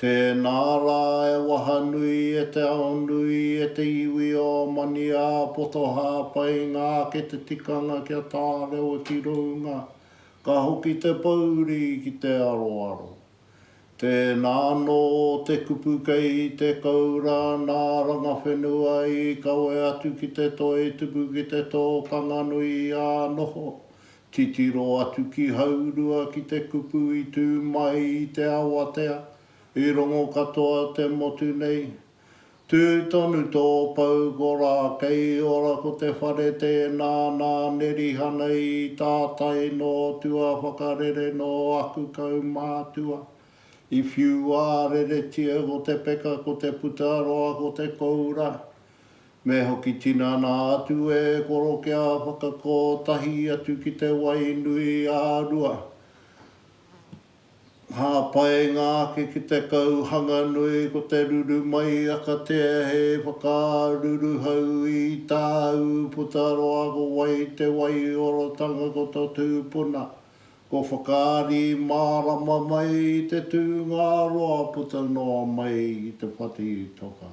Tēnā rā e wahanui e te ao nui e te iwi o Maniāpoto hāpai ngā ake te tikanga kia tārewa ki rounga, ka hoki te pouri ki te aroaro. Tēnā anō te kupu kei te koura nā Rangawhenua i kawe atu ki te toi tuku ki te tō Kanganui i ā noho, Titiro atu ki Haurua ki te kupu i tū mai i te awatea, i rongo katoa te motu nei. Tū tonu tō pou ko rā kei ora ko te whare tēnā nā Nerihana i tātai nō tua whakarere nō aku kaumātua. I whiu ā reretia ko te peka ko te puta roa ko te koura. Me hoki tinana atu e koro kia whakako tahi atu ki te wai nui a Rua. Hāpainga ake ki te kauhanga nui ko te ruru mai akatea he whakaruruhau i tāu puta roa ko wai te waiorotanga ko to tūpuna ko whakaari mārama mai i te tūnga roa puta noa mai i te whati toka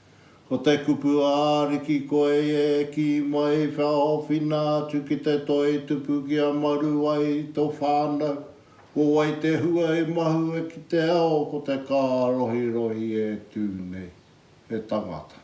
Ko te kupu ā-ariki koe e kī mai wha owhina atu ki te toi tupu ki a maru ai i to whānau, ko wai te hua i mahue ki te ao ko te kārohirohi e tū nei, he tangata.